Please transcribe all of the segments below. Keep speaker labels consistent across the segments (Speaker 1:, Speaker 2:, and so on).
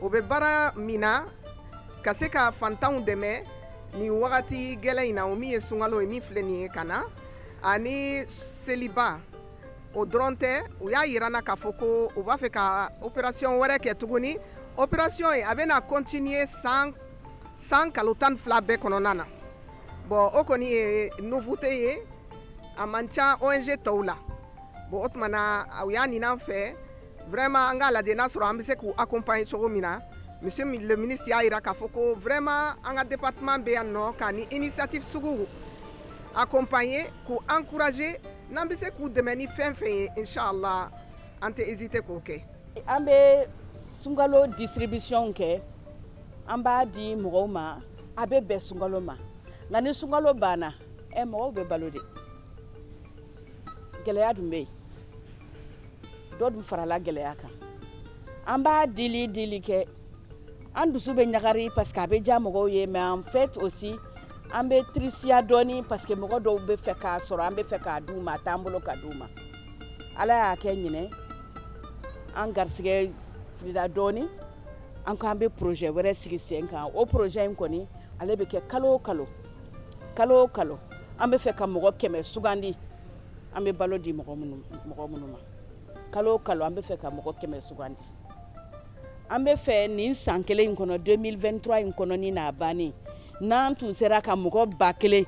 Speaker 1: o bɛ baara min na ka se ka fantanw dɛmɛ ni wagati gɛlɛ in na o min ye sunkalo ye min filɛ nin ye ka na ani seliba o dɔrɔn tɛ u y'a jira an na k'a fɔ ko u b'a fɛ ka opération wɛrɛ kɛ tuguni opération ye a bɛna continuer san kalo tan fila bɛɛ kɔnɔna na bon o kɔni ye nouveauté ye a man ca ONG tɔw la bon o tuma na u y'a ɲini an fɛ Vraiment an k'a lajɛ n'a sɔrɔ an bɛ se k'u accompagner cogo min na monsieur le ministre y'a jira k'a fɔ ko vraiment an ka département bɛ yan nɔ ka nin initiative suguw accompagner k'u encourager n'an bɛ se k'u dɛmɛ ni fɛn fɛn ye inchallah an tɛ hésiter k'o kɛ. An
Speaker 2: bɛ sunkalo distribution kɛ an b'a di mɔgɔw ma a bɛ bɛn sunkalo ma nka ni sunkalo banna ɛ mɔgɔw bɛ balo de gɛlɛya dun bɛ yen. dɔ dun farala gɛlɛya kan an ba dili dili kɛ an dusu bɛ ɲagari parce que a bɛ diya mɔgɔw ye mais en fait aussi an bɛ tirisiya dɔɔni parce que mɔgɔ dɔw bɛ fɛ k'a sɔrɔ an bɛ fɛ k'a d'u ma a t'an bolo k'a d'u ma ala y'a kɛ ɲinan an garisigɛ filila dɔɔni an ko an bɛ projet wɛrɛ sigi sen kan o projet in kɔni ale bɛ kɛ kalo o kalo kalo o kalo an bɛ fɛ ka mɔgɔ kɛmɛ sugandi an bɛ balo di mɔgɔ minnu ma kalo o kalo an bɛ fɛ ka mɔgɔ kɛmɛ sugandi an bɛ fɛ nin san kelen in kɔnɔ 2023 in kɔnɔ ni n'a bannen n'an tun sera ka mɔgɔ ba kelen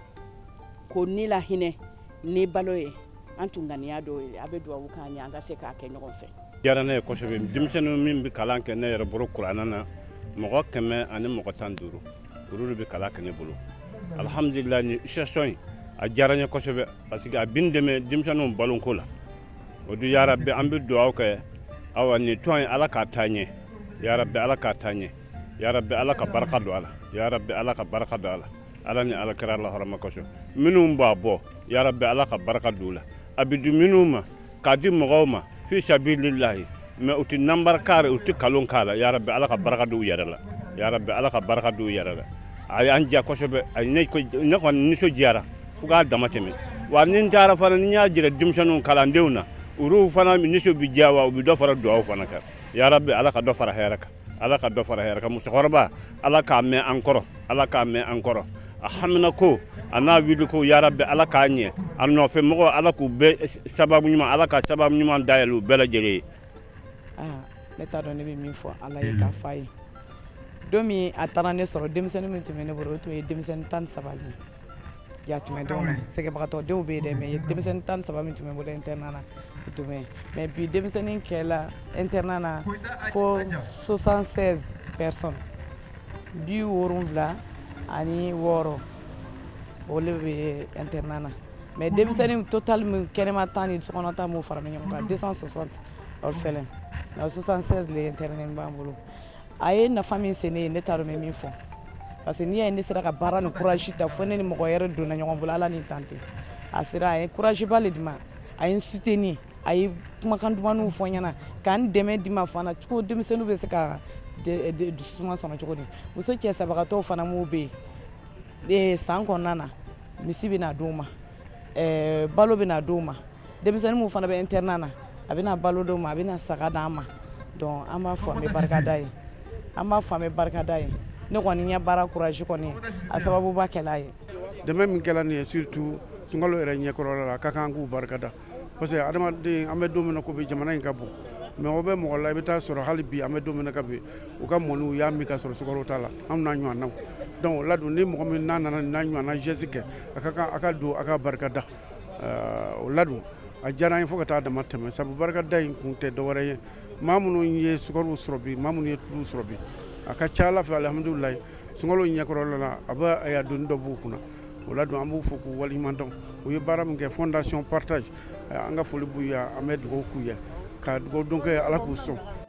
Speaker 2: kɔni lahinɛ ni balo ye an tun ŋaniya dɔw ye a bɛ duwawu k'an ye an ka se k'a kɛ ɲɔgɔn fɛ diyara ne ye kosɛbɛ
Speaker 3: denmisɛnninw min bɛ kalan kɛ ne yɛrɛ bolo kurana na mɔgɔ kɛmɛ ani mɔgɔ tan duuru olu bɛ kalan kɛ ne bolo alihamdulila ni situation in a diyara n ye kosɛbɛ parce que a bɛ n dɛmɛ denmisɛnninw baloko la o dun ya rabbi an bɛ dugawu kɛ awa nin tɔn in ala k'a taa ɲɛ ya rabbi ala k'a taa ɲɛ ya rabbi ala ka barika don a la ya rabbi ala ka barika don a la ala ni ala kira lahɔrɔma kosɔn minnu b'a bɔ ya rabbi ala ka barika don u la a bɛ di minnu ma k'a di mɔgɔw ma fi sabilillahi mais u tɛ nanbara k'a rɔ u tɛ kalon k'a la ya rabbi ala ka baraka don u yɛrɛ la ya rabbi ala ka baraka don u yɛrɛ la a y'an diya kosɛbɛ a ne kɔni nisɔndiyara fo k'a dama tɛmɛ wa ni n taara fana ni n y'a jira denmisɛnninw kalandenw na olu fana nisɔn bɛ diya wa u bɛ dɔ fara dugawu fana kan ya rabbi ala ka dɔ fara hɛrɛ kan ala ka dɔ fara hɛrɛ kan musokɔrɔba ala k'a mɛn an kɔrɔ ala k'a mɛn an kɔrɔ a haminako an'a wuliko ya rabbi ala k'a ɲɛ a nɔfɛ mɔgɔ ala k'u bɛɛ sababu ɲuman ala ka sababu ɲuman dayɛlɛ u bɛɛ lajɛlen
Speaker 4: ye ne t'a dɔn ne bɛ min fɔ ala ye k'a f'a ye don min a taara ne sɔrɔ denmisɛnnin min tun bɛ ne bolo o tun ye denmisɛnnin tan saba le ye Yatimɛ denw na sɛgɛnbagatɔ denw bɛ yen dɛ mais denmisɛnnin tan ni saba min tun bɛ n bolo internat la u tun bɛ yen mais bi denmisɛnnin kɛla internat la fo 76 personnes bi wolonwula ani wɔɔrɔ o le bɛ internat na mais denmisɛnnin total min kɛnɛma ta ni sokɔnɔ ta m'o fara ɲɔgɔn kan 260 orphelins nka 76 le internat b'an bolo a ye nafa min se ne ye ne t'a dɔn n bɛ min fɔ parce que n'i y'a ye ne sera ka baara ni courage ta fo ne ni mɔgɔ yɛrɛ donna ɲɔgɔn bolo ala ni tante a sera a ye courage ba le di n ma a ye n soutenir a ye kumakan dumanw fɔ n ɲɛna k'an dɛmɛ di ma fana cogo denmisɛnninw bɛ se ka dususuma sɔrɔ cogo di muso cɛ sabagatɔw fana minnu bɛ yen san kɔnɔna na misi bɛna d'u ma balo bɛna d'u ma denmisɛnnin minnu fana bɛ internat na a bɛna balo d'u ma a bɛna saga d'an ma donc an b'a fɔ an bɛ barika d'a ye an b'a fɔ an bɛ barika d'a ye ne kɔni ɲɛ baara courage kɔni a sababuba kɛl'a ye dɛmɛ min kɛla nin ye
Speaker 5: surtout sunkalo yɛrɛ ɲɛkɔrɔla la a ka kan k'u barika da parce que adamaden an bɛ don min na ko bi jamana in ka bon mago bɛ mɔgɔ la i bɛ taa sɔrɔ hali bi an bɛ don min na ka bi u ka mɔni u y'a min k'a sɔrɔ sukaro t'a la an'a ɲɔgɔnnaw donc o la dun ni mɔgɔ min n'a nana n'a ɲɔgɔnna geste kɛ a ka kan a ka dɔn a ka barika da o la dun a diyara an ye fo ka taa dama tɛmɛ sabu barikada in kun tɛ dɔwɛrɛ ye maa minnu ye sukaro sɔrɔ bi maa minnu ye tulu sɔrɔ bi a ka ca ala fɛ alhamdulilayi sunkalo ɲɛkɔrɔla la a bɛ a ye doni dɔ b'u kunna o la dun an b'u fo k'u waliɲuman dɔn u ye baara min kɛ fondation partage an ka foli b'u ye an bɛ dugawu k'u ye ka dugawudon k'u ye ala k'u sɔn